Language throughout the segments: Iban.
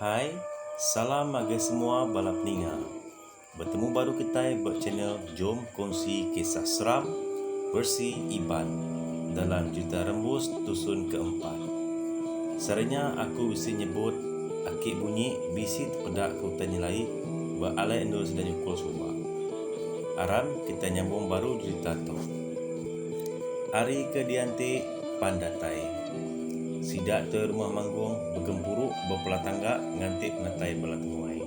Hi, salam ngagai semua bala peninga. Betemu baru kitai ba channel Jom Kongsi Kisah Seram versi Iban dalam Juta Rembus tusun ke empat. Sehari nya aku bisi nyebut aki bunyi bisi tepeda ke utai nyelai ba alai endur sida nyukul suba. Aram kitai nyambung baru jerita tu. Ari ke dianti. pan datai. Sida te rumah manggung begempuru bepela tangga nganti penatai bala temuai.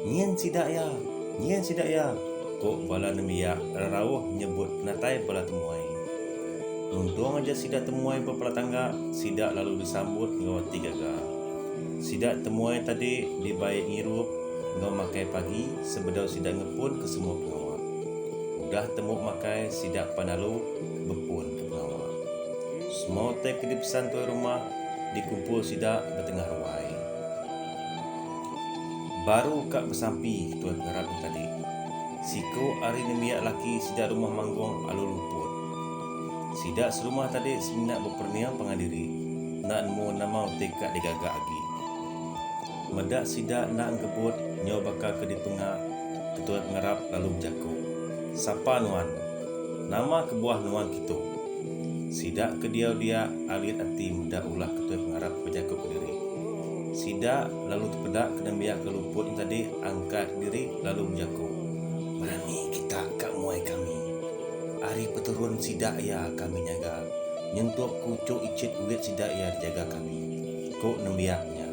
Nyin sida iya! Nyin sida iya! ku bala nembiak rerauh nyebut penatai bala temuai. Nuntung aja sida temuai bepela tangga, sida lalu disambut enggau ati gaga. Sida temuai tadi dibai ngirup enggau makai pagi sebedau sida ngepunka semua pengawa. Udah temu makai sida pan lalu bepun. Pengawa. Semua utai ke dipesan tuai rumah dikumpul sida ba tengah ruai. Baru ka besampi tuai pengarap nya tadi, siku ari nembiak laki sida rumah Manggong alu luput. Sida serumah tadi semina beperening pangan diri enda nemu nama utai ka digaga agi. Meda sida enda engkebut nyau baka ke dipenga, ketuai pengarap lalu bejaku, Sapa nuan? Nama kebuah nuan kitu? Sida ke diau dia alit ati meda ulah ke tuai pengarap bejaku kediri. Sida lalu tepeda ke nembiak ke luput nya tadi angkat diri lalu bejaku, Berani kita ka muai kami. Ari peturun sida iya kami nyaga, nyentuk kuchuk ichit bulik sida iya dijaga kami, ku nembiak nya.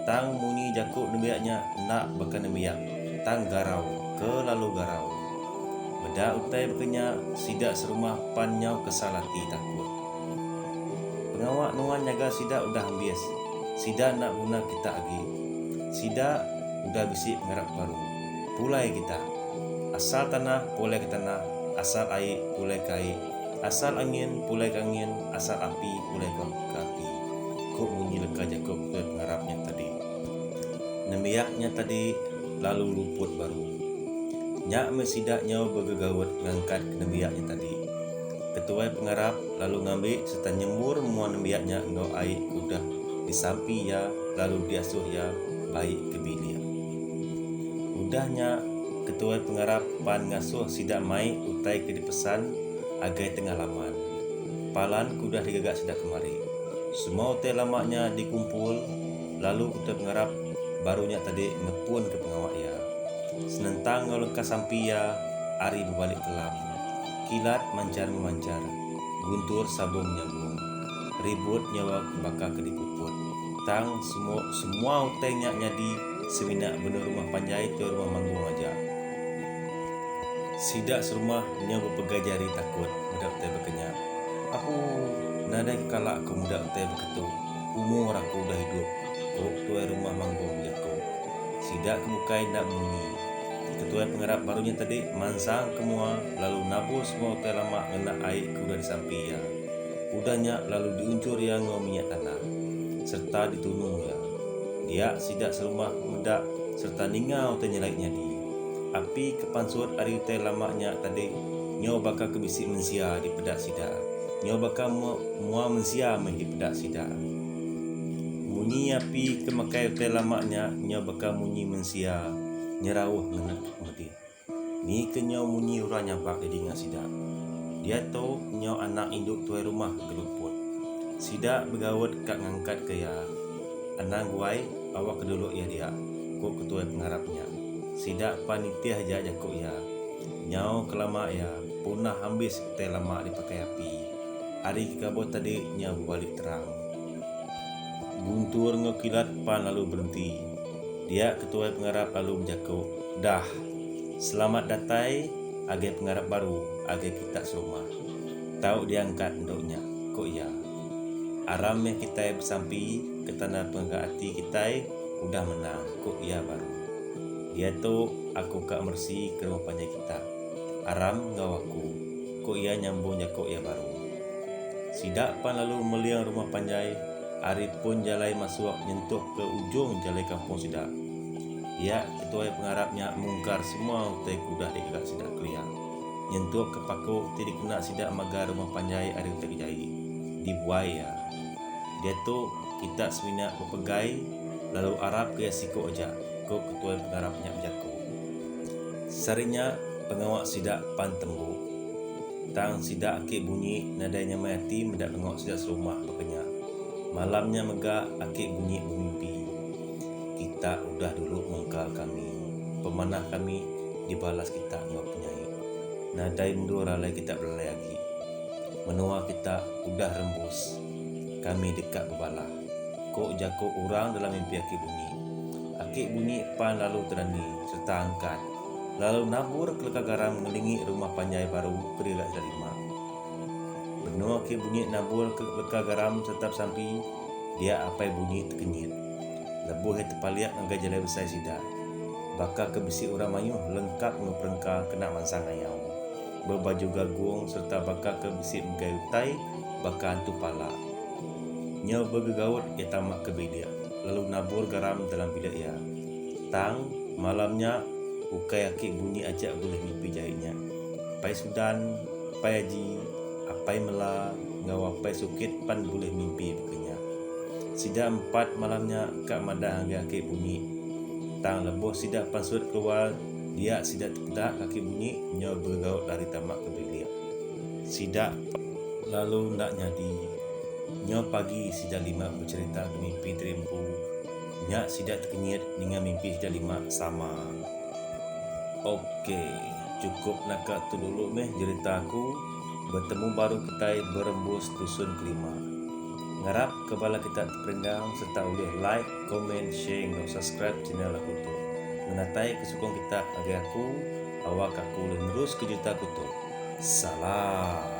Tang munyi jaku nembiak nya enda baka nembiak, tang garau ke lalu garau. Meda utai baka nya, sida serumah pan nyau kesal ati takut. Pengawa nuan nyaga sida udah ambis. Sida enda guna kita agi. Sida udah bisi pengarap baru. Pulai kita. Asal tanah, pulai ke tanah. Asal ai, pulai ke ai. Asal angin, pulai ke angin. Asal api, pulai ke api, ku munyi leka jaku betul pengarap nya tadi. Nembiak nya tadi. lalu luput baru. Nya meh sida nyau begegaut ngangkat nembiak nya tadi. Ketuai pengarap lalu ngambi sereta nyembur mua nembiak nya enggau ai ke udah disampi iya lalu diasuh iya bai ke bilik. Udah nya, ketuai pengarap pan ngasuh sida mai utai ke dipesan agai tengah laman. Palan ke udah digaga sida kemari. Semua utai lama nya dikumpul. Lalu Utep ngarap baru nya tadi ngepunka pengawa iya. Senentang enggau leka sampi iya ari bebalik kelam. Kilat manchar memanchar, guntur sabung nyabung. Ribut nyawa ke baka ke dipuput. Tang semu semua utai nya nyadi semina benung rumah panjai tau rumah manggung aja. Sida serumah nyau bepegai jari takut meda utai baka nya. Apuh, nadai kekala aku meda utai baka tu. Umur aku udah idup, ku Ketuai Rumah Manggung jaku. Sida ke bukai enda munyi. Ketuai Pengarap baru nya tadi mansang ke mua lalu nabur semua utai lama ngena ai ke udah disampi iya. Udah nya lalu diunjur iya enggau minyak tanah sereta ditunu iya. Dia sida serumah meda sereta ninga utai nyelai nyadi. Api ke pansut ari utai lama nya tadi nyau baka ke bisi mensia dipeda sida. Nyau baka mua mensia meh dipeda sida. Munyi api ke makai utai lama nya nyau baka munyi mensia nyerauh ngena mudip. Ni ke nyau munyi orang nyabak di dinga sida? Diatu nyau anak indu tuai rumah geluput. Sida begaut ka ngangkatka iya. Anang guai, awa ke dulu iya dia, ku ketuai pengarap nya. Sida pan nitih aja jaku iya. Nyau ke lama iya punah ambis. Utai lama dipakai api. Hari ke gabuh tadi nya bebali terang. Guntur enggau Kilat pan lalu berenti. Dia ke tuai pengarap lalu bejaku, Dah. Selamat datai agai pengarap baru agai kita serumah. Tau diangkat endu nya, ku iya. Aram meh kitai besampi ke tanda pengaga ati kitai udah menang, ku iya baru. Diatu aku ka meresi ke rumah panjai kita. Aram enggau aku, ku iya nyambung jaku iya baru. Sida pan lalu meling rumah panjai ari pun jalai masuk nyentukka ujung jalai kampung sida. Iya, ketuai pengarap nya mungkar semua utai ke udah digaga sida kelia, nyentukka paku ti dikena sida magar rumah panjai ari utai ke jai, dibuai iya. Diatu, kita semina bepegai lalu arapka iya siku aja, ku ketuai pengarap nya bejaku. Sehari nya pengawa sida pan tembu. Tang sida aki Bunyi nadai nyamai ati meda pengawa sida serumah baka nya. Malam nya mega aki Bunyi bemimpi. Kita udah dulu mungkal kami. Pemanah kami dibalas kita enggau penyai. Nadai endur alai kita belalai agi. Menua kita udah rembus. Kami deka bebalah. Ko jako orang dalam mimpi Aki Bunyi. Aki Bunyi pan lalu terani sereta angkat lalu nabur keleka garam ngelingi rumah panjai baru ke dila ida lima. Benung Aki Bunyi nabur ke leka garam sereta besampi, dia Apai Bunyi tekenyit. Lebuh iya tepalik ngagai jalai besai sida, baka ke bisi orang mayuh lengkap enggau perengka kena mansang ayau. Bebaju gagong sereta baka ke bisi megai utai baka antu pala. Nyau begegaut iya tama ke bilik lalu nabur garam dalam bilik iya. Tang, malam nya ukai aki Bunyi aja bulih ngipi jai nya. Apai Sudan, Apai Aji, Apai Mela enggau Apai Sukit pan bulih mimpi baka nya. Sida empat malam nya ka madah ngagai aki Bunyi. Tang lebuh sida pansut keluar, Dia sida tepeda kaki bunyi nyau beregaut lari tama ke bilik sida. Lalu enda nyadi. Nyau pagi sida lima becherita ke mimpi tadi empu. Nya sida tekenyit ninga mimpi sida lima sama. Ok. Chukup naka tu dulu meh jerita aku. Betemu baru kitai berembus tusun kelima. Ngarap ke bala kita teperindang sereta ulih like. Comment, share enggau subscribe channel aku tu. Ngenatai ke sukung kita ngagai aku awak aku ulih nerus ke juta aku tu. Salam.